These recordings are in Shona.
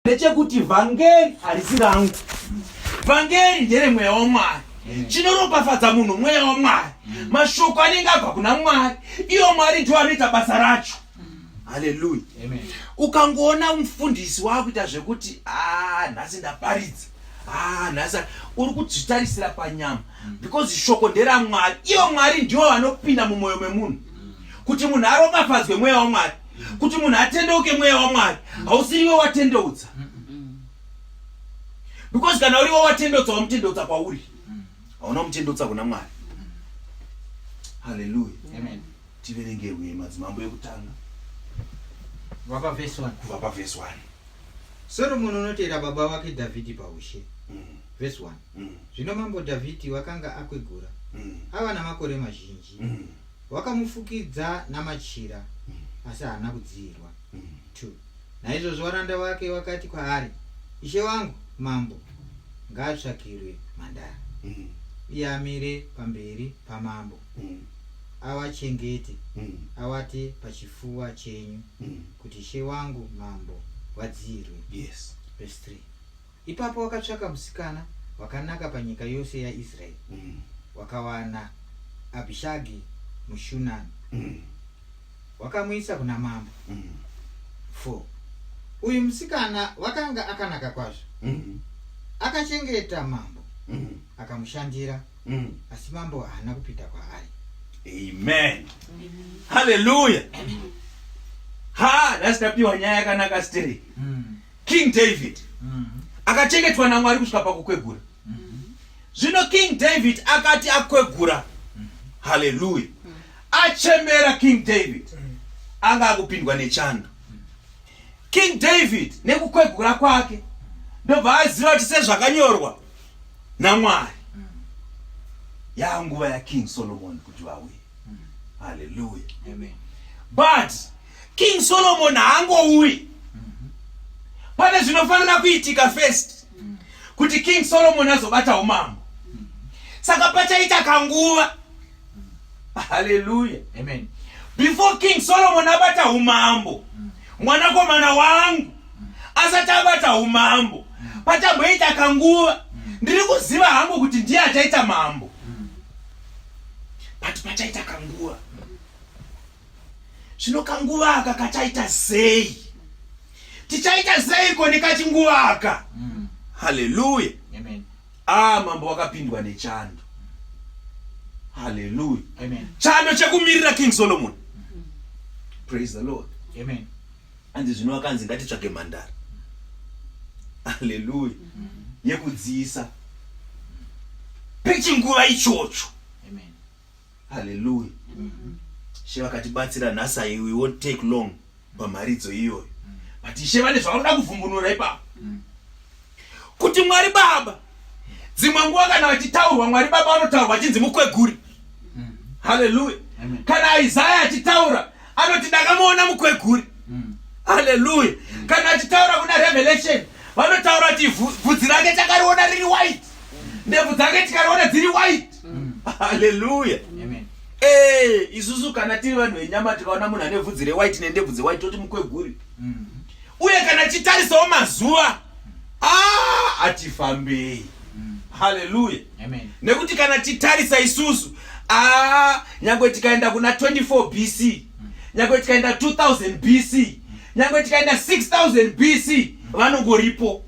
ndechekuti vhangeri harisi rangu vhangeri ndere mweya wamwari mm. chinoropafadza munhu mweya wamwari mm. mashoko anenge abva kuna mwari iyo mwari ndiwo anoita basa racho mm. haleluya ukangoona mufundisi waakuita zvekuti a ah, nhasi ndaparidza Ah, nhasa uri kudzitarisira panyama mm. because shoko nderamwari iyo mwari ndiwo vanopinda mumwoyo memunhu mm. kuti munhu aropafadzwe mweya wamwari kuti munhu atendeuke mweya wamwari hausiriwe watendeutsa because kana uriwe watendeutsa wamutendeutsa kwauri hauna mutendeutsa kuna mwari haleluya tiverengerwe madzimambo ekutanga vapa vhesi 1 kubva pavhesi 1 soromoni unotera baba vake dhavhidhi paushe mm. vhesi 1 mm. zvino mambo dhavhidhi wakanga akwegura mm. ava namakore mazhinji mm. wakamufukidza namachira mm. asi haana kudziirwa mm. t naizvozvo varanda vake vakati kwaari ishe wangu mambo ngaatsvakirwe mhandara mm. iye amire pamberi pamambo mm. avachengete mm. avate pachifuva chenyu mm. kuti ishe wangu mambo vadziirwe yes. Ipapo wakatsvaka musikana wakanaka panyika yose yaIsraeri, mm. wakawana Abhishagi muShunami, mm. wakamuisa kuna mambo. Mm. Four. Uyu musikana wakanga akanaka kwazvo, mm. akachengeta mambo, mm. akamushandira, mm. asi mambo haana kupinda kwaari. Amen. Amen. Hallelujah. Amen. Ha, that's the pure nyaya yakanaka stiri. Mm. King David akachengetwa naMwari kusvika pakukwegura. Zvino King David akati akwegura, haleluya, achembera King David anga akupindwa nechando. King David nekukwegura kwake ndobva aziva kuti sezvakanyorwa naMwari yaa nguva yaKing Solomon kuti vauye. Haleluya. Amen. But King Solomon haangouyi. Pane zvinofanira kuitika first kuti King Solomon azobata umambo. Saka pachaita kanguva. Hallelujah. Amen. Before King Solomon abata umambo, mwanakomana wangu asati abata umambo, pachamboita kanguva. Ndiri kuziva hangu kuti ndiye achaita mambo. But pachaita kanguva. zvino kanguva aka kachaita sei tichaita seiko nekachinguva aka mm. haleluya ah mambo wakapindwa nechando haleluya chando chekumirira king solomon mm. praise the lord Amen. anzi zvino akanzi ngatitsvage mhandara haleluya mm -hmm. yekudziisa pechinguva ichocho Hallelujah. Mm -hmm. She vakatibatsira nhasi I we won't take long pamharidzo iyoyo. Mm. But She vane zvavanoda kuvhumbunura ipapo. Mm. Kuti Mwari Baba dzimwe nguva kana vachitaurwa Mwari Baba vanotaurwa vachinzi mukweguri. Mm. Hallelujah. Amen. Kana Isaya achitaura anoti ndakamuona mukweguri. Mm. Hallelujah. Mm. Kana achitaura kuna Revelation vanotaura kuti vhudzi rake takariona riri white. Mm. Ndebvu dzake tikariona dziri white. mm. haleluya eh, isusu kana tiri vanhu venyama tikaona munhu ane vhudzi rewhite nendebvu dzewhite toti mukweguri mm. uye kana chitarisawo mazuva hatifambei ah, mm. haleluya nekuti kana titarisa isusu ah, nyangwe tikaenda kuna 24 bc nyangwe tikaenda 2000 bc nyangwe tikaenda 6000 bc vanongoripo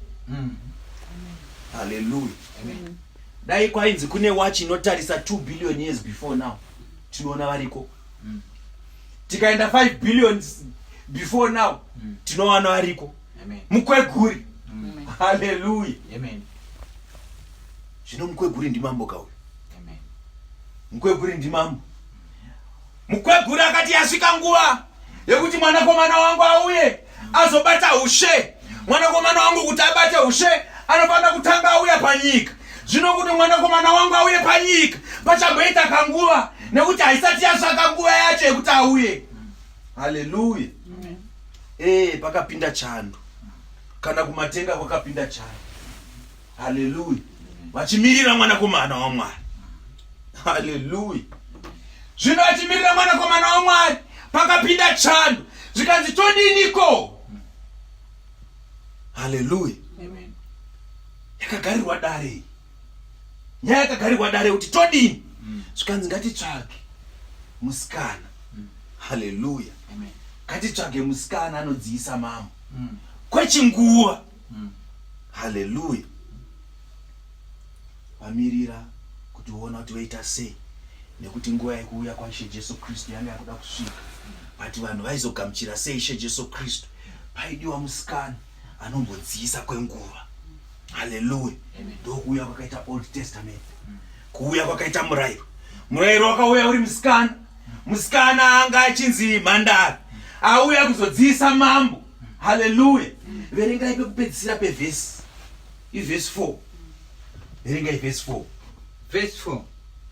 haleluya dai kwainzi kune watch inotarisa 2 billion years before now tinoona variko mm. tikaenda 5 billion before now mm. tinowana variko mukweguri mm. haleluya zvino mukweguri ndimambo kauyo mukweguri ndimambo mukweguri akati yasvika nguva yekuti mwanakomana wangu auye azobata ushe mwanakomana wangu kuti abate ushe anofanira kutanga auya panyika zvino kuti mwanakomana wangu auye panyika pachamboita kanguva nekuti haisati yasvaka nguva yacho yekuti auye haleluya ee eh, pakapinda chando kana kumatenga kwakapinda chando haleluya vachimirira mwanakomana wamwari haleluya zvino vachimirira mwanakomana wamwari pakapinda chando zvikanzi todiniko haleluya yakagarirwa dare iyi nyaya yakagarirwa dare kuti todini mm. zvikanzi ngatitsvage musikana mm. haleluya ngatitsvage musikana anodziisa mambo mm. kwechinguva mm. haleluya vamirira kuti voona kuti voita sei nekuti nguva yekuuya kwaishe jesu kristu yanga yakuda kusvika but vanhu vaizogamuchira sei ishe jesu kristu paidiwa musikana anombodziyisa kwenguva haleluya ndokuuya kwakaita old testament kuuya kwakaita murairo murairo wakauya uri musikana musikana anga achinzi mhandara auya kuzodziyisa mambo haleluya verengai pekupedzisira pevhesi ivhesi 4 verengai vhesi 4 vhesi 4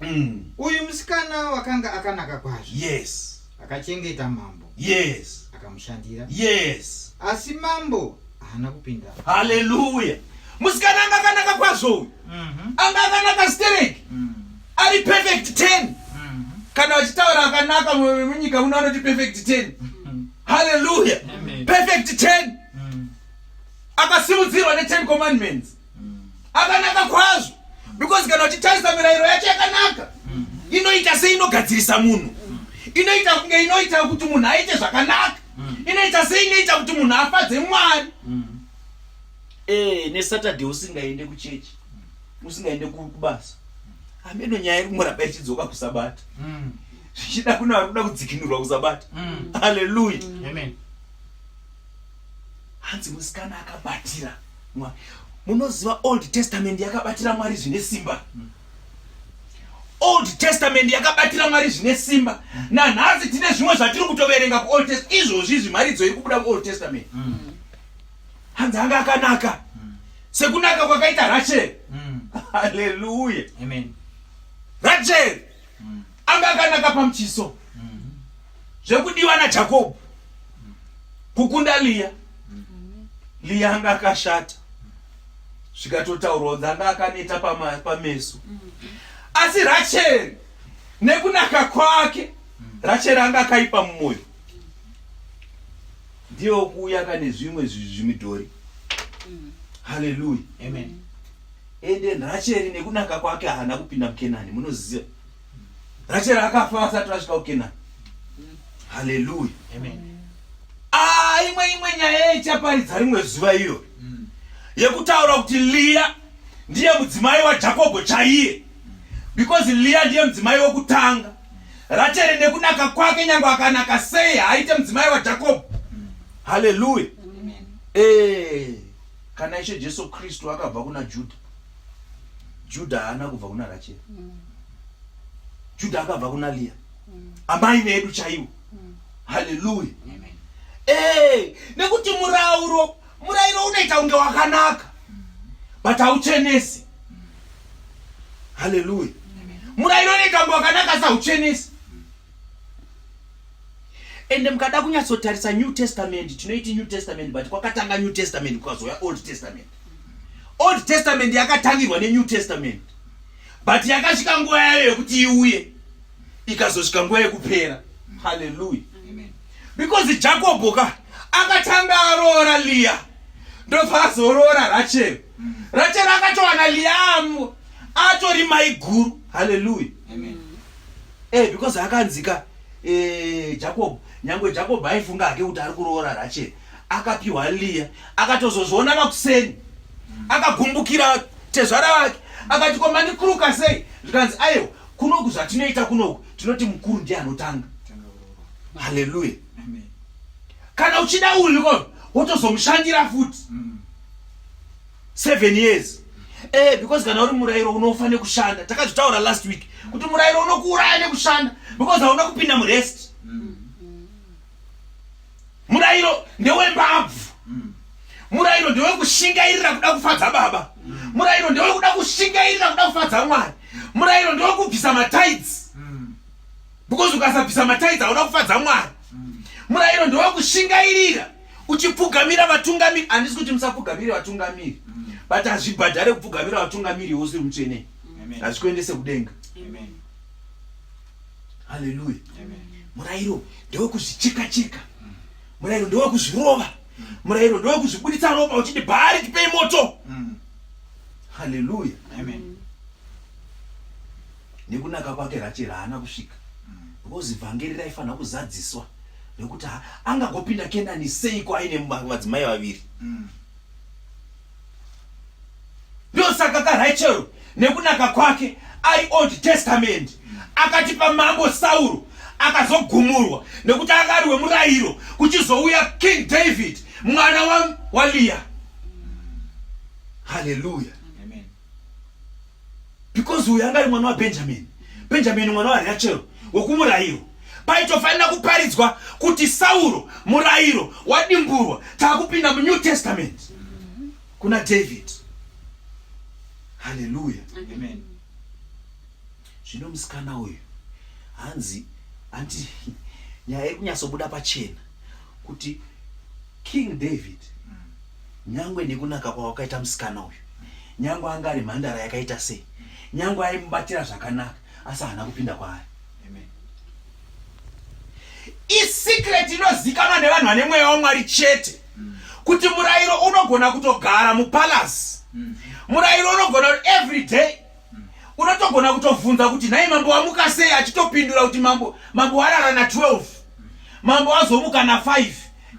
mm. uyu musikana wakanga akanaka kwazvo yes akachengeta mambo yes akamushandira yes asi mambo haana kupinda haleluya musikana anga akanaka kwazvo uyu mm -hmm. anga akanaka stereki mm. ari perfect ten mm-hmm. kana vachitaura akanaka munyika muno vanoti perfect ten mm-hmm. halleluya perfect ten mm. akasimudzirwa neten commandments mm. akanaka kwazvo because kana uchitarisa mirayiro yacho yakanaka mm. inoita se inogadzirisa munhu inoita kunge inoita kuti munhu aite zvakanaka inoita se inoita kuti munhu afadze mwari eh, nesaturday usingaende kuchechi usingaende kubasa ameno nyaya iri kuramba ichidzoka kusabata mm. zvichida kune vari kuda kudzikinurwa kusabata mm. haleluya mm. hanzi musikana akabatira mwari munoziva old testament yakabatira mwari zvine simba old testament yakabatira mwari zvine simba nanhasi tine zvimwe zvatiri kutoverenga kuold test izvozvi izvi mharidzo iri kubuda kuold testament hanzi anga akanaka mm. sekunaka kwakaita rachel mm. haleluya amen rachel mm. anga akanaka pamuchiso mm. zvekudiwa najakobho mm. kukunda liya mm. liya anga akashata zvikatotaurwa kunzi anga akaneta pameso mm. asi rachel nekunaka kwake mm. rachel anga akaipa mumoyo ndiye okuuya ka nezvimwe zvimidhori mm. haleluya amen ende racheri nekunaka kwake haana kupinda mukenani munoziva racheri akafa asati vasvika kukenani mm. haleluya amen ah, imwe imwe nyaya ichaparidza rimwe zuva iyo mm. yekutaura kuti liya ndiye mudzimai wajakobho chaiye because liya ndiye mudzimai wekutanga racheri nekunaka kwake nyange akanaka sei haaite mudzimai wajakobho haleluya ee eh, kana ishe jesu kristu akabva kuna judha judha haana kubva kuna racheri mm. judha akabva kuna liya mm. amai vedu chaivo mm. haleluya ee eh, nekuti murauro murairo unoita kunge wakanaka but hauchenesi haleluya murairo nekambo wakanaka sauchenesi ende mukada kunyatsotarisa new testament tinoiti new testament but kwakatanga new testament kukazouya old testament old testament yakatangirwa nenew testament but yakasvika nguva yayo yekuti iuye ikazosvika nguva yekupera haleluya because jakobho ka akatanga aroora liya ndobva azoroora rachel rachel akatowana liamu atori maiguru haleluya e because akanzika e, jacob nyange jacob aifunga hake kuti ari kuroora rachel akapiwa liya akatozozviona makuseni akagumbukira tezvara vake akati komanikuruka sei zvikanzi aiwa kunoku zvatinoita kunoku tinoti mukuru ndiye anotanga haleluya kana uchida uyu ko wotozomushandira futi mm. seven years eh because kana uri murairo unofa nekushanda takazvitaura last week kuti murairo unokuuraya nekushanda because hauna kupinda murest murairo ndewembabvu murairo ndewekushingairira kuda kufadza baba murairo ndewekuda kushingairira kuda kufadza mwari murairo ndewekubvisa matides because ukasabvisa matides hauna kufadza mwari murairo ndewekushingairira uchipfugamira vatungamiri handisi kuti musapfugamire vatungamiri mm. but hazvibhadhare kupfugamira vatungamiri iwe usiri mutsvene hazvikuendese kudenga haleluya murayiro ndewekuzvicheka cheka mm. murayiro ndewekuzvirova mm. murayiro ndewekuzvibuditsa ropa uchiti bhaari tipei moto haleluya nekunaka kwake Rachel haana kusvika because vhangeri raifanira kuzadziswa nekuti angagopinda kenani seiko aine madzimai vaviri mm. ndosaka karachel nekunaka kwake ari old testament mm. akatipa mambo sauro akazogumurwa nekuti akari wemurayiro kuchizouya king david mwana waliya mm. haleluya because uyu anga ari mwana wabenjamini benjamini mwana warachel wokumurayiro paitofanira kuparidzwa kuti sauro murayiro wadimburwa taakupinda munew testament kuna david haleluya zvino musikana uyu hanzi hanti nyaya iri kunyatsobuda pachena kuti king david Nyangwe nekunaka kwawakaita musikana uyu, nyangwe anga ari mhandara yakaita sei, nyangwe aimubatira zvakanaka, asi haana kupinda kwaari. Isecret inozikanwa nevanhu vane mweya waMwari chete kuti murairo unogona kutogara mupalace, murairo unogona kuti every day unotogona kutovhunza kuti nhai mambo wamuka sei achitopindura kuti mambo mambo warara na 12 mambo wazomuka na 5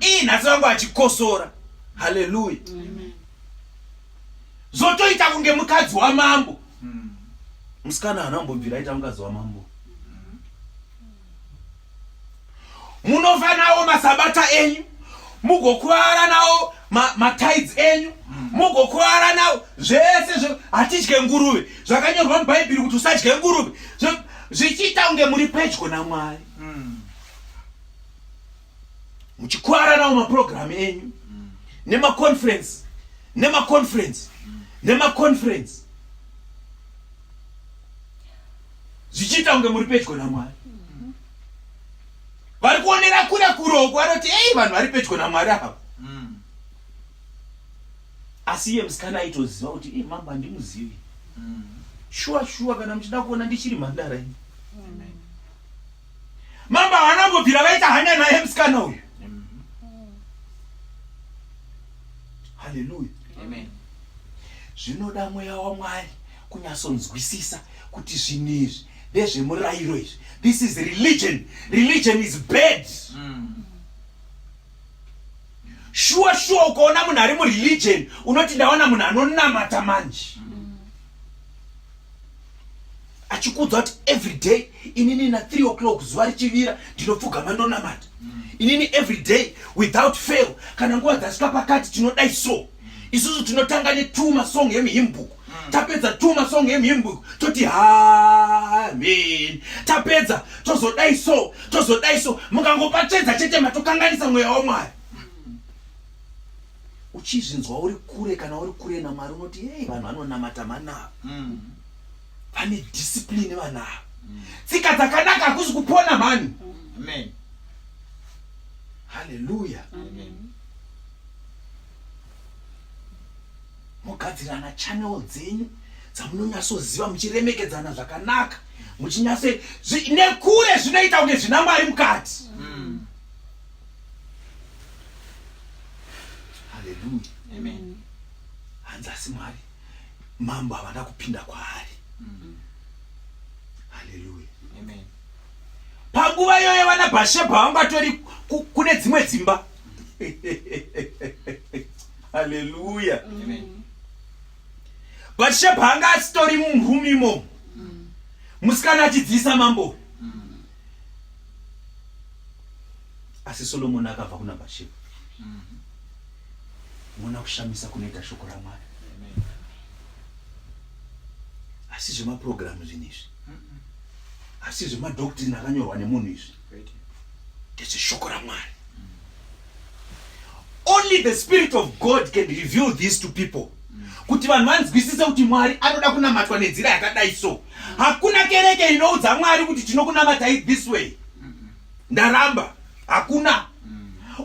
ii nhasi vangu achikosora haleluya zvotoita kunge mukadzi wamambo musikana hana kumbobvira aita mukadzi wamambo munofa nawo masabata enyu mugokuvara nawo matides ma enyu mm. mugokuvara nawo zvese zvo hatidye nguruve zvakanyorwa mubhaibheri kuti usadye nguruve zvichiita kunge muri pedyo namwari mm. muchikwara nawo maprogramu enyu nemaconference nemaconference nemaconference zvichiita kunge muri pedyo namwari vari kuonera kure kuroko vanoti ei vanhu vari pedyo namwari ava asi iye musikana aitoziva kuti i mambo handimuzivi shuwa shuwa kana muchida kuona ndichiri mhandara ini Mambo havana kumbobvira vaita hanya naye musikana uyu. Haleluya. Amen. Zvinoda mweya waMwari kunyatsonzwisisa kuti zvinhu izvi ndezvemurayiro izvi. This is religion. Religion is bad. Mm. shuwa shuwa ukaona munhu ari mureligion unoti ndaona munhu anonamata manje achikuudza kuti every day inini na 3 o'clock zuva richivira ndinopfugama ndonamata inini every day without fail kana nguva dzasvika pakati tinodai so isusu tinotanga ne2 masong emuhimbuku hmm. tapedza two masong emhimbo toti hamen tapedza tozodai so tozodai so mukangopachedza chete matokanganisa mweya wamwari hmm. uchizvinzwa uri kure kana uri kure namwari unoti hei vanhu vanonamata manavo hmm. vane discipline vanavo tsika dzakanaka hakuzi kupona mhani haleluya mogadzirana channel dzenyu dzamunonyatsoziva muchiremekedzana zvakanaka muchinyase nekure zvinoita kunge zvina mwari mukati mm. haleluya hanzi asi mwari mambo havana kupinda kwaari mm. haleluya panguva iyoyo vana bhashebha vanga tori kune dzimwe dzimba haleluya bhatishebha anga asitori mumhumi imomo musikana achidziisa mambo asi solomoni akabva kuna bhatishebha mona kushamisa kunoita shoko ramwari asi zvemapurogiramu zvinhu izvi asi zvemadoctrin akanyorwa nemunhu izvi ndezveshoko ramwari only the spirit of god can reveal this to people kuti vanhu vanzwisise kuti mwari anoda kunamatwa nenzira yakadai so hakuna kereke inoudza mwari kuti tinokunamatai this way ndaramba hakuna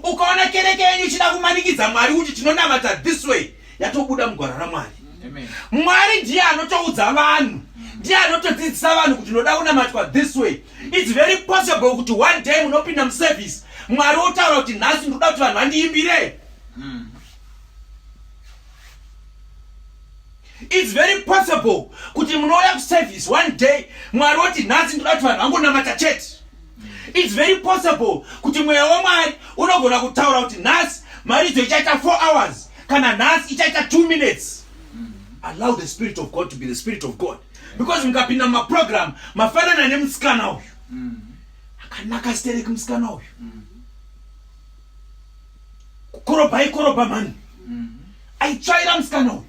ukaona kereke yenyu ichida kumanikidza mwari kuti tinonamata this way yatobuda mugwara ramwari mwari ndiye anotoudza vanhu ndiye anotodzidzisa vanhu kuti unoda kunamatwa this way its very possible kuti one day munopinda muservice mwari wotaura kuti nhasi ndinoda kuti vanhu vandiimbire hmm. its very possible kuti munouya kuservice one day mwari woti nhasi ndinoda kuti vanhu vangonamata chete It's very possible kuti mweya wamwari unogona kutaura kuti nhasi maridzo ichaita 4 hours kana nhasi ichaita 2 minutes allow the spirit of god to be the spirit of god because mukapinda mumaprogram mafanana nemusikana uyu akanaka stereki musikana uyu kukorobha aikorobha mani aitsvaira musikana uyu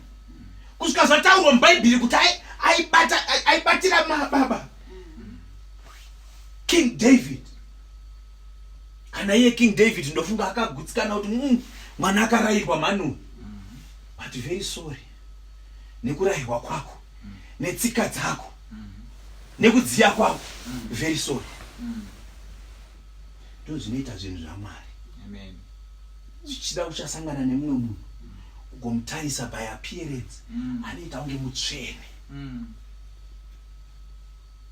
kusvika zvataurwa mubhaibheri kuti aibatira mababa king david kana iye king david ndofunga akagutsikana kuti mm, mwana akarayirwa manu but very sorry nekurayirwa kwako netsika dzako nekudziya kwako very sorry ndo zvinoita zvinhu zvamwari zvichida uchasangana nemumwe munhu ugomutarisa by appearance anoita kunge mutsvene mm.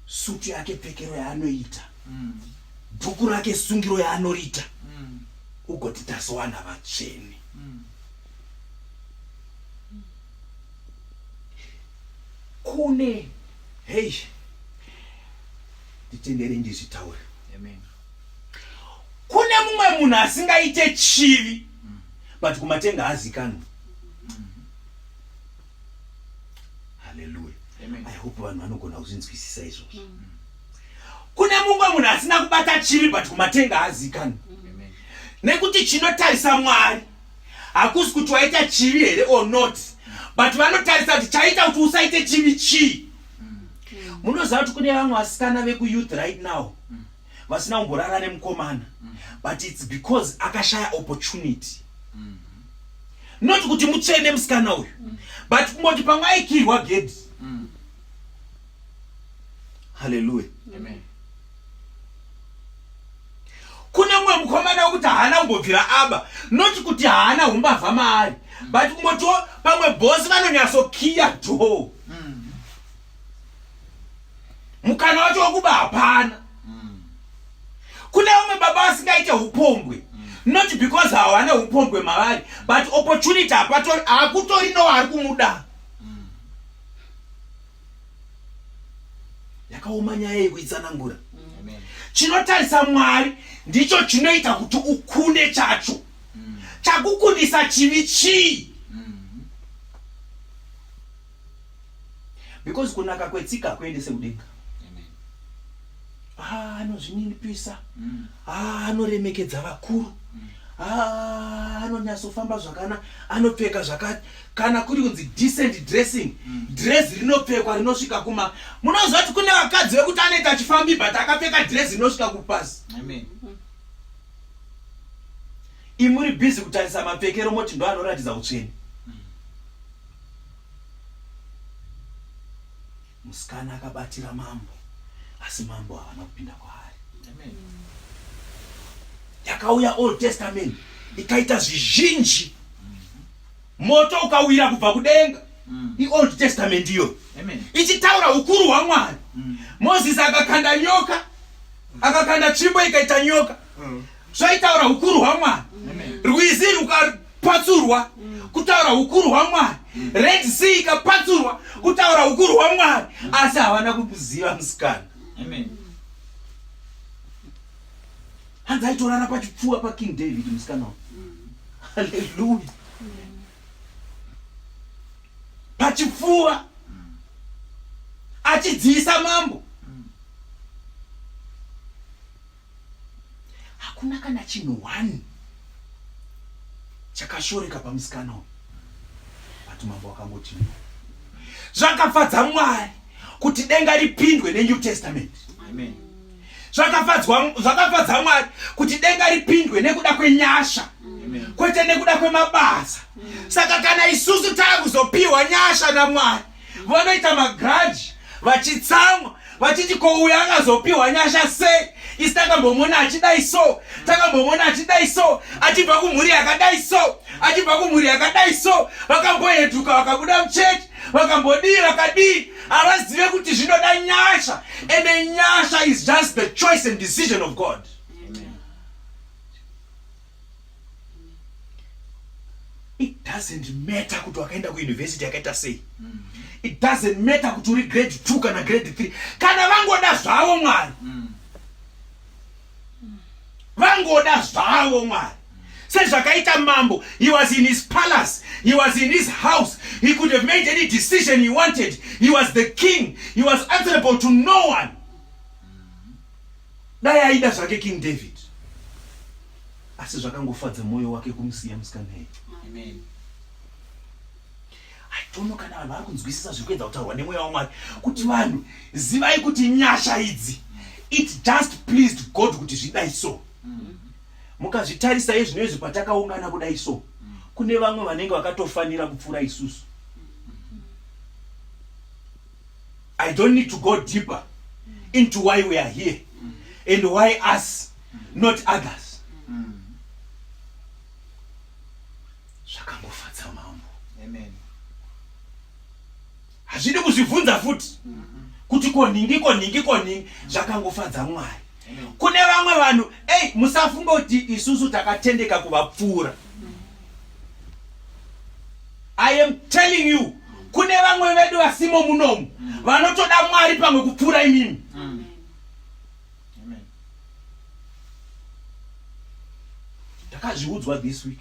sutu yake pfekero yaanoita mm. dhuku rake sungiro yaanoriita mm. ugoti tazowana vatsvene mm. kune hei nditendere ndizvitaure kune mumwe munhu asingaite chivi mm. but kumatenga azikanwa haleluya i hope vanhu vanogona kuzvinzwisisa izvozvo mm. kune mumwe munhu asina kubata chivi but kumatenga haazikani mm. nekuti chinotarisa mwari hakusi kuti waita chivi here or not but vanotarisa kuti chaita kuti usaite chivi chii mm. munoziva kuti kune vamwe vasikana vekuyouth right now vasina kumborara nemukomana mm. but its because akashaya opportunity mm. not kuti mutsvene musikana uyu mm. but kungoti pamwe aikirwa gedhi mm. haleluya kune mumwe mukomana wekuti haana kumbobvira aba not kuti haana umbavha maari mm. but kungotiwo pamwe bhosi vanonyatsokiya dhoo mukana wacho wekuba hapana mm. kune vamwe baba vasingaite upombwe mm. not because hawane upombwe mavari but opportunity hapatori hakutori no ari kumuda mm. yakaoma nyaya yekuitsanangura mm. chinotarisa mwari ndicho chinoita kuti ukunde chacho mm. chakukundisa chivi chii because kunaka kwetsika hakuendese kudenga ah, anozvininipisa mm. ah, anoremekedza vakuru mm. ah, anonyatsofamba zvakana anopfeka zvakati kana kuri kunzi decent dressing mm. dress rinopfekwa rinosvika kuma munoziva kuti kune vakadzi vekuti anoita achifambi but akapfeka dress rinosvika kupasi imuri busy kutarisa mapfekero moti ndo anoratidza utsveni Musikana akabatira mambo asi mambo havana kupinda kwaari. Yakauya Old Testament ikaita zvizhinji, moto ukawira kubva kudenga. Mm. IOld Testament iyo ichitaura ukuru hwaMwari. Mm. Moses akakanda nyoka, akakanda tsvimbo ikaita nyoka, mm. zvaitaura ukuru hwaMwari. Rwizi ruka patsurwa kutaura ukuru hwamwari red sea ikapatsurwa kutaura ukuru hwamwari asi havana kumuziva musikana hanzi aitorara pachipfuwa paking david musikana wa haleluya pachipfuwa achidziisa mambo hakuna kana chinhu one chakashoreka pamusikana uyu but mambo akangoti zvakafadza mwari kuti denga ripindwe nenew testament zvakafadza mwari kuti denga ripindwe nekuda kwenyasha kwete nekuda kwemabasa saka kana isusu taakuzopiwa nyasha namwari vanoita magrudge vachitsamwa vachiti ko uyo akazopiwa nyasha sei isi takambomona achidai so takambomona achidai so achibva kumhuri yakadai so achibva kumhuri yakadai so vakamboheduka vakabuda muchechi vakambodii vakadii havazive kuti zvinoda nyasha ende nyasha is just the choice and decision of god it doesn't matter kuti wakaenda kuuniversity yakaita sei mm. it doesn't matter kuti uri grade two kana grade three kana vangoda zvavo mwari mm. vangoda zvavo mwari sezvakaita mambo he was in his palace he was in his house he could have made any decision he wanted he was the king he was answerable to no one dai aida zvake king david asi zvakangofadza mwoyo wake kumusiya musikanei aitono kana vanhu vari kunzwisisa zviri kuedza kutaurwa nemweya wamwari kuti vanhu zivai kuti nyasha idzi it just pleased god kuti zvidai so mm-hmm. mukazvitarisa izvino izvi patakaungana kudai so mm-hmm. kune vamwe vanenge vakatofanira kupfuura isusu I don't need to go deeper into why we are here and why us not others zvakangofadza mambo hazvidi kuzvibvunza futi kuti konhingi konhingi konhingi zvakangofadza mwari kune vamwe vanhu ei musafunga kuti isusu takatendeka kuvapfuura I am telling you kune vamwe vedu vasimo munomu vanotoda mwari pamwe kupfuura imimi ndakazviudzwa this week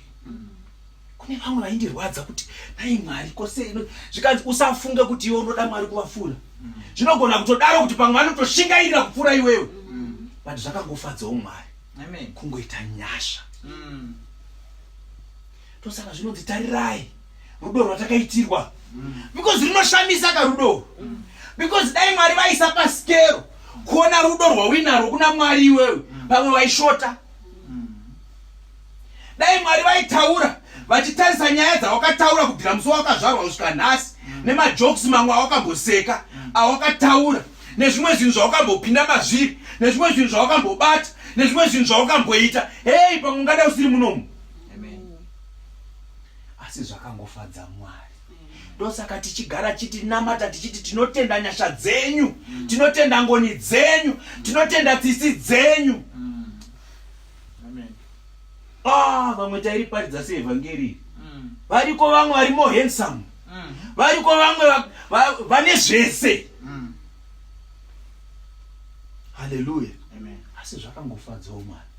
kune vamwe vaindirwadza kuti nai mwari kose zvikanzi usafunge kuti iwe unoda mwari kuvapfuura zvinogona kutodaro kuti pamwe vanotoshingairira kupfuura iwewe but zvakangofadzawo mwari kungoita nyasha mm. tosaka zvinonzi tarirai rudo rwatakaitirwa mm. because rinoshamisa ka rudo mm. because dai mwari vaisa pasikero kuona rudo rwauinarwo kuna mwari iwewe mm. pamwe vaishota dai mwari vaitaura vachitarisa nyaya dzawakataura kubvira musi wawakazvarwa kusvika nhasi nemajokes mamwe awakamboseka awakataura nezvimwe zvinhu zvaukambopinda mazviri nezvimwe zvinhu zvaukambobata nezvimwe zvinhu zvaukamboita hei pamwe ungada usiri munomu asi zvakangofadza mwari ndosaka tichigara chitinamata tichiti tinotenda nyasha dzenyu mm. tinotenda ngoni dzenyu mm. tinotenda tsitsi dzenyu mm. ah, vamwe tairiparidza seevhangeri variko vamwe vari more handsome variko vamwe vane zvese haleluya asi zvakangofadzawo mwari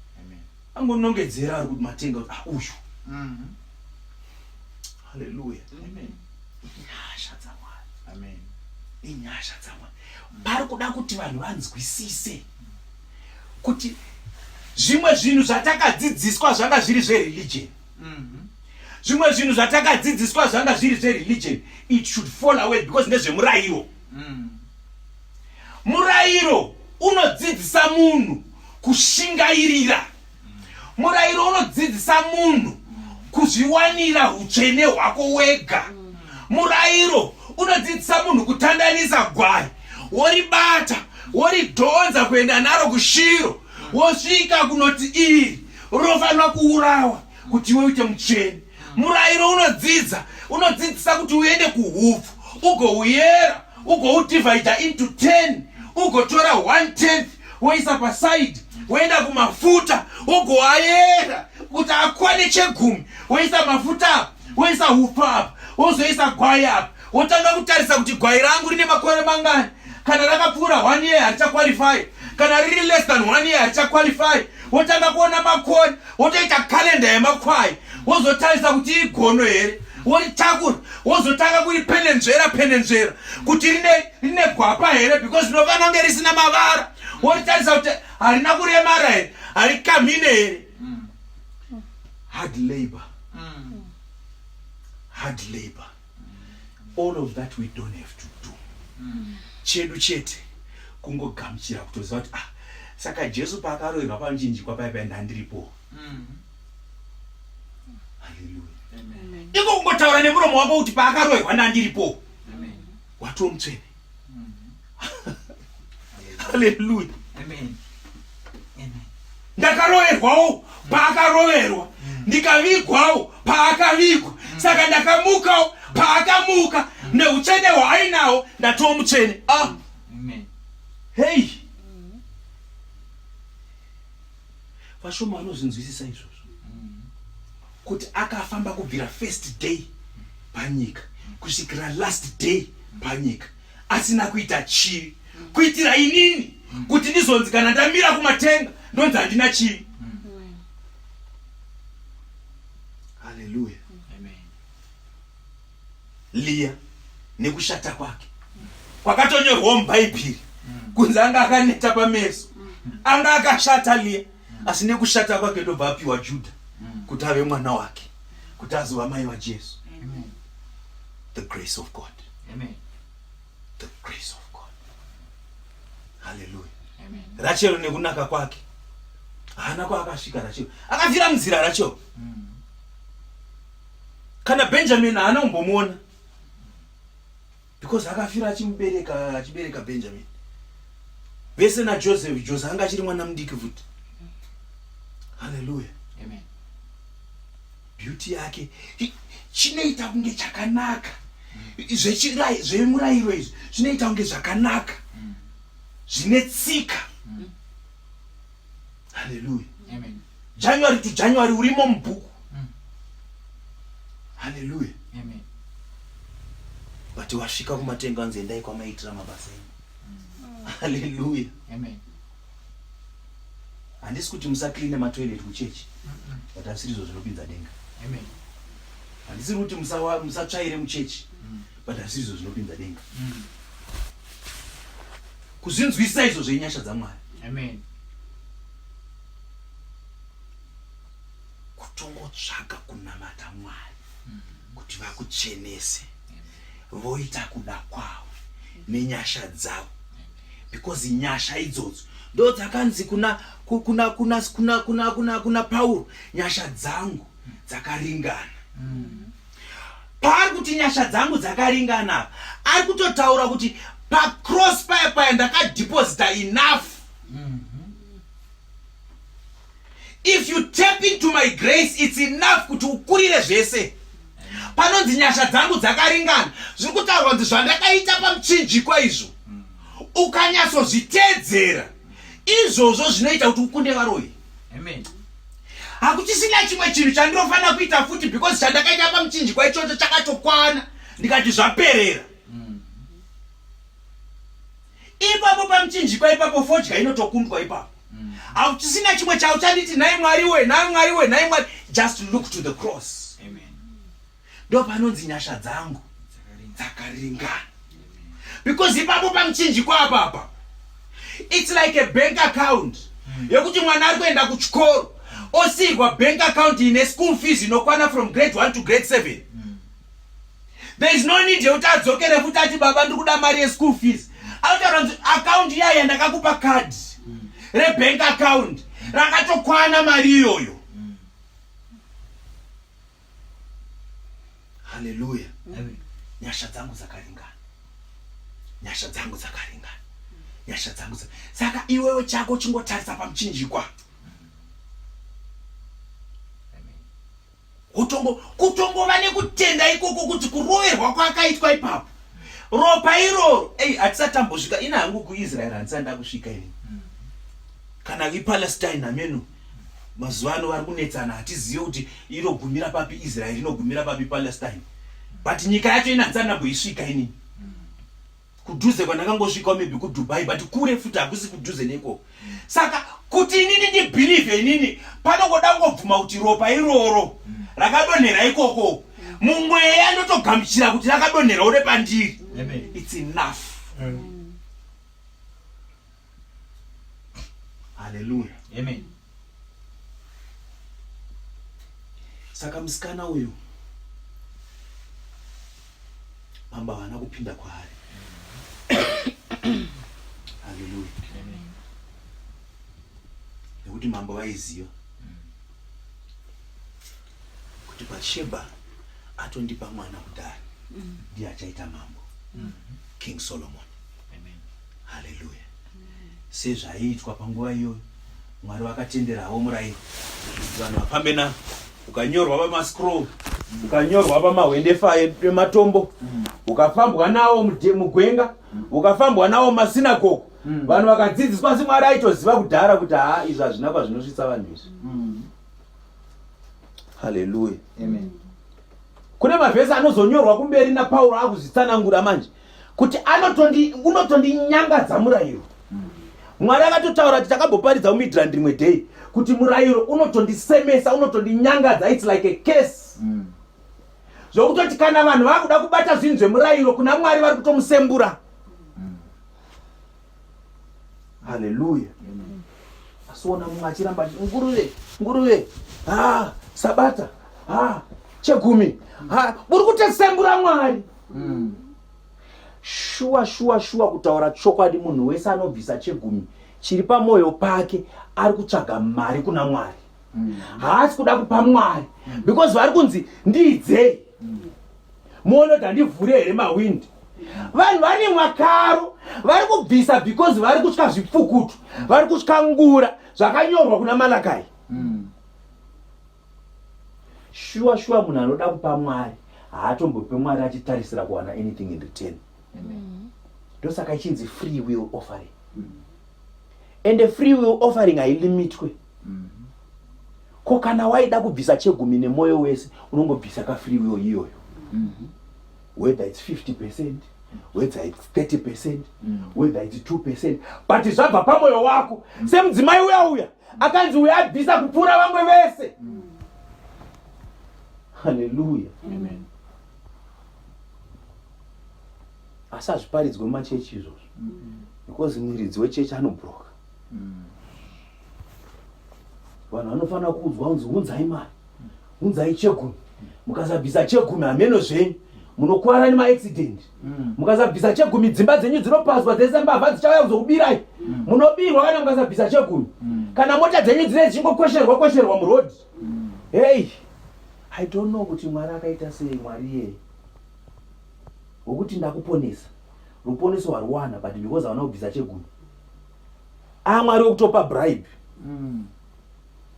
angonongedzera ari kuti matenga kuti ah, uyu mm-hmm. haleluya inyasha dzamwari inyasha dzamwari pari kuda kuti vanhu vanzwisise kuti zvimwe zvinhu zvatakadzidziswa zvanga zviri zvereligion mm-hmm. zvimwe zvinhu zvatakadzidziswa zvanga zviri zvereligion it should fall away because ndezvemurayiro mm. Murairo unodzidzisa munhu kushingairira. Murairo unodzidzisa munhu kuzviwanira utsvene hwako wega. Murairo unodzidzisa munhu kutandanisa gwai woribata woridhonza kuenda naro kushiro wosvika kunoti iri rofanira kuurawa kuti iwe uite mutsvene murayiro unodzidza unodzidzisa kuti uende kuhupfu ugouyera ugoudivhaidha into ten ugotora one tenth woisa pasaidi woenda kumafuta wogoayera kuti akwane chegumi woisa mafuta apa woisa hupfu apa wozoisa gwai apa wotanga kutarisa kuti gwai rangu rine makore mangani kana rakapfuura one year harichaqualify kana riri less than one year harichaqualify wotanga kuona makore wotoita kalenda yemakwai wozotarisa kuti igono here woritakura wozotanga kuripenenzvera penenzvera kuti rine rine gwapa here because rinofana kunge risina mavara woritarisa kuti harina kuremara here harikamhine here mm. hard labor mm. hard labor all of that we don't have to do mm. chedu chete kungogamuchira kutoziva kuti ah saka jesu paakaroirwa pamuchinjikwa paipai ndandiripo mm. iko kungotaura nemuromo wako kuti paakaroirwa ndandiripo watomutsvene haleluya ndakaroverwawo paakaroverwa ndikavigwawo paakavigwa saka ndakamukawo paakamuka neutsvene hwaainawo ndatiwo mutsvene ah. hei vashoma vanozvinzwisisa izvozvo kuti akafamba kubvira first day panyika kusvikira last day panyika asina kuita chii kuitira inini kuti ndizonzi kana ndamira kumatenga ndonzi handina chii Leah nekushata kwake kwakatonyorwawo mubhaibheri kunzi anga akaneta pameso anga akashata Leah asi nekushata kwake ndobva apiwa Juda kuti ave mwana wake kuti azova mai vaJesu the grace of God Amen. the grace of God hallelujah Amen. Rachel nekunaka kwake haana kwaakasvika Rachel akafira munzira Rachel mm. kana benjamin haana kumbomuona because akafira achimubereka achibereka benjamin vese najoseph jose anga achiri mwana mudiki futi halleluya beauty yake chinoita kunge chakanaka zvemurayiro izvi zvinoita kunge zvakanaka zvine tsika mm. haleluya january to january urimo mubhuku mm. haleluya but wasvika kumatenga anzi endai kwamaitira mabasa enu mm. haleluya handisi kuti musacleane matoilet kuchechi but asiri izvo zvinopinza denga handisiri kuti musatsvaire muchechi mm. but asiri izvo zvinopinza denga mm. kuzvinzwisisa izvo zvenyasha dzamwari amen kutongotsvaga kunamata mwari kuti vakuchenese voita kuda kwavo nenyasha dzavo because nyasha idzodzo ndo dzakanzi kuna kuna kuna kuna kuna kuna pauro nyasha dzangu dzakaringana mm. paari kuti nyasha dzangu dzakaringana apa ari kutotaura kuti pacross paya paya ndakadeposita enough mm -hmm. if you tap into my grace its enough kuti ukurire zvese panonzi nyasha dzangu dzakaringana zviri kutaurwa kuti zvandakaita pamuchinjikwa izvo mm. ukanyatsozviteedzera izvozvo zvinoita kuti ukunde varoyi amen hakuchisina chimwe chinhu chandinofanira kuita futi because chandakaita pamuchinjikwa ichocho chakatokwana ndikati zvaperera mm. ipapo pamuchinjikwa ipapo fodya inotokundwa ipapo mm. hakuchisina mm. chimwe chauchanditi nhai mwari we nhai mwari we nhai mwari just look to the cross ndopanonzi nyasha dzangu dzakaringana because ipapo pamuchinjiko apapa its like a bank account hmm. yekuti mwana ari kuenda kuchikoro osiyirwa bank account ine school fees inokwana from grade 1 to grade 7 hmm. there is no need yekuti adzokere futi ati baba ndiri kuda mari yeschool fees anotaura kuti akaunti iya yandakakupa card hmm. rebank account rakatokwana mari iyoyo Haleluya. Amen. Nyasha dzangu dzakaringana. Nyasha dzangu dzakaringana. Nyasha dzangu dzaka. Saka iwewe chako chingotarisa pamuchinjikwa. Kutongo kutongova nekutenda ikoko kuti kuroverwa kwakaitwa ipapo. Ropa iroro, ei atisatambosvika ina hangu kuIsrael handisanda kusvika ini. Kana iPalestine ameno. mazuva ano vari kunetsana hatizive kuti inogumira papi israeri inogumira papi palestine but nyika yacho inanzi anamboisvika inini kudhuze kwandakangosvika maybe kudubai but kure futi hakusi kudhuze neikoko saka kuti inini ndibhilivhe inini panongoda kungobvuma kuti ropa iroro rakadonhera ikoko mumweya ndotogamuchira kuti rakadonhera ure pandiri its enough mm. haleluya amen saka musikana uyu mambo havana kupinda kwaari haleluya nekuti mambo vaiziva kuti Batsheba atondipa mwana kudhara mm. ndiye achaita mambo mm. King Solomon Amen. Hallelujah Amen. sezvaiitwa panguva iyoyo Mwari vakatenderawo murayiro vanhu vafambe na ukanyorwa pamascroll ukanyorwa pamahwendefa ematombo mm. ukafambwa nawo mugwenga mm. ukafambwa nawo masinagogo mm. vanhu vakadzidziswa asi mwari aitoziva kudhara kuti haa izvi hazvina kwazvinosvitsa vanhu izvi haleluya amen kune mavhesi anozonyorwa kumberi napauro akuzvitsanangura manje kuti unotondinyangadza murayiro mwari akatotaura kuti takaboparidza umidrand rimwe day kuti murayiro unotondisemesa unotondinyangadza its like a case mm. zvokutoti kana vanhu vakuda kubata zvinhu zvemurayiro kuna mwari vari kutomusembura mm. haleluya asiona mumwe achiramba ati nguruve nguruve ha sabata ha chegumi ha muri kutesembura mwari mm. shuwa shuwa shuwa kutaura chokwadi munhu wese anobvisa chegumi chiri pamwoyo pake ari kutsvaga mari kuna mwari haasi kuda kupa mwari because vari kunzi ndiidzei muone kuti handivhure here mawindi vanhu vane mwakaro vari kubvisa because vari kutya zvipfukutu vari kutya ngura zvakanyorwa kuna malakai mm. shuwa shuwa munhu anoda kupa mwari haatombope mwari achitarisira kuwana anything in return mm. ndosaka ichinzi free will offering mm. and a free will offering hailimitwe ko kana waida kubvisa chegumi nemwoyo wese unongobvisa kafree will iyoyo whether its 50 percent whether its 30 percent whether its 2 percent but zvabva pamwoyo wako semudzimai uya uya akanzi uya abvisa kupfuura vamwe vese haleluya Amen. asi hazviparidzwe mumachechi izvozvo because mwiridzi wechechi anobroka vanhu vanofanira kuudzwa unzi unzai mari unzai chegumi mukasabvisa chegumi hameno zvenyu munokwara nemaaccident mm. mukasabvisa chegumi dzimba dzenyu dzinopazwa dzese mbavha dzichauya kuzokubirai mm. munobirwa kana mukasabvisa chegumi mm. kana mota dzenyu dzine dzichingokwesherwa kwesherwa muroad hei i don't know kuti mwari akaita sei mwari iyeye wekuti ndakuponesa ruponeso hwaruwana but because havana kubvisa chegumi amwari wekutopa bribe mm.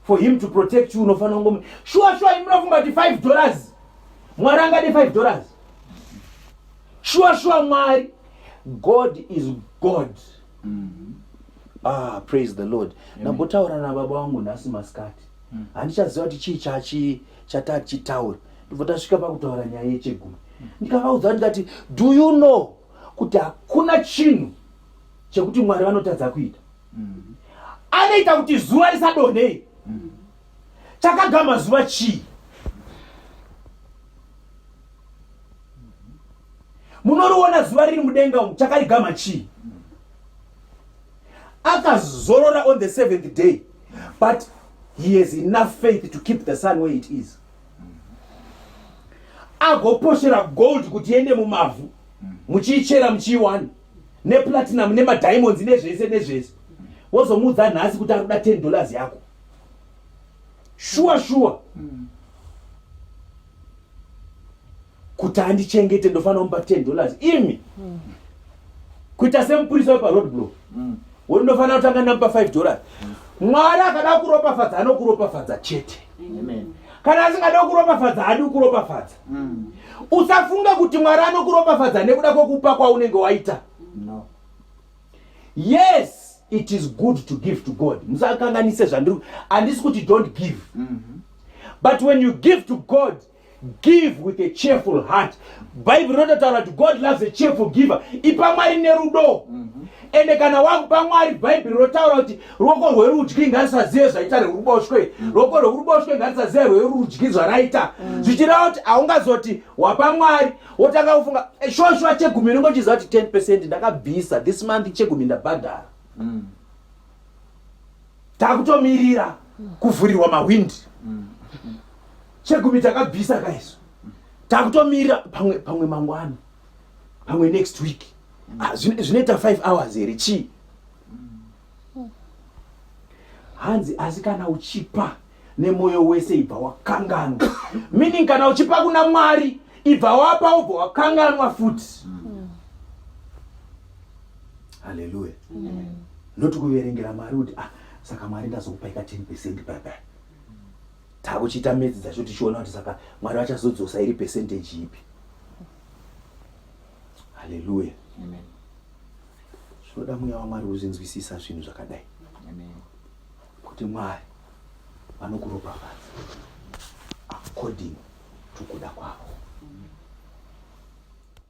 for him to protect you unofanira kungomu shuwa shuwa imunofunga kuti five dollars mwari angade five dollars shuwa shuwa mwari god is god mm -hmm. ah praise the lord ndambotaura nababa wangu nhasi masikati mm. handichaziva kuti chii chachi chatachichitaura ndibva tasvika pakutaura nyaya yechegumi mm. ndikavaudza ndikati do you know kuti hakuna chinhu chekuti mwari vanotadza kuita mm-hmm. anoita kuti zuva risadonhei mm-hmm. chakagama zuva chii munoriona zuva riri mudenga umu chakarigama chii akazorora on the seventh day but he has enough faith to keep the sun where it is agoposhera gold kuti iende mumavhu muchiichera muchiiwana neplatinum nemadiamonds nezvese nezvese wozomuudza nhasi kuti arikuda 10 dollars yako shuwa shuwa mm. kuti andichengete ndofanira kumupa 10 dollars imi mm. kuita semupurisa weparoad blow mm. woti ndofanira kutanga ndamupa 5 dollars mm. mwari akada kuropafadza anokuropafadza chete Amen. kana asingada kuropafadza haadi kuropafadza mm. usafunga kuti mwari anokuropafadza nekuda kwekupa kwaunenge waita no. yes it is good to give to god musakanganise zvandiri handisi kuti don't give mm -hmm. but when you give to god give with a cheerful heart bhaibheri rototaura kuti god loves a cheerful giver ipa mwari nerudo mm -hmm. ende kana wakupa mwari bhaibheri rotaura kuti ruoko rwerudyi ngarisazive zvaita rweruboshwe mm. ruoko rwekuruboshwe ngarisazive rwerudyi zvaraita mm. zvichireva kuti haungazoti wapa mwari wotanga kufunga eh, shoshuwa chegumi ringo chiziva kuti 10 percent ndakabvisa this month chegumi ndabhadhara mm. takutomirira kuvhurirwa mahwindi chegumi takabvisa kaiso takutomirira pamwe pamwe mangwana pamwe next week ah, zvinoita 5 hours here chii hanzi asi kana uchipa nemwoyo wese ibva wakanganwa meaning kana uchipa kuna mwari ibva wapa ubva wakanganwa futi mm. haleluya mm. noti kuverengera mwari kuti ah, saka mwari ndazokupaika 10 percent baba takuchiita medzi dzacho tichiona kuti saka mwari vachazodzosa iri percentage ipi haleluya zvinoda mweya wamwari uzinzwisisa zvinhu zvakadai kuti mwari vanokuropafadza according to kuda kwavo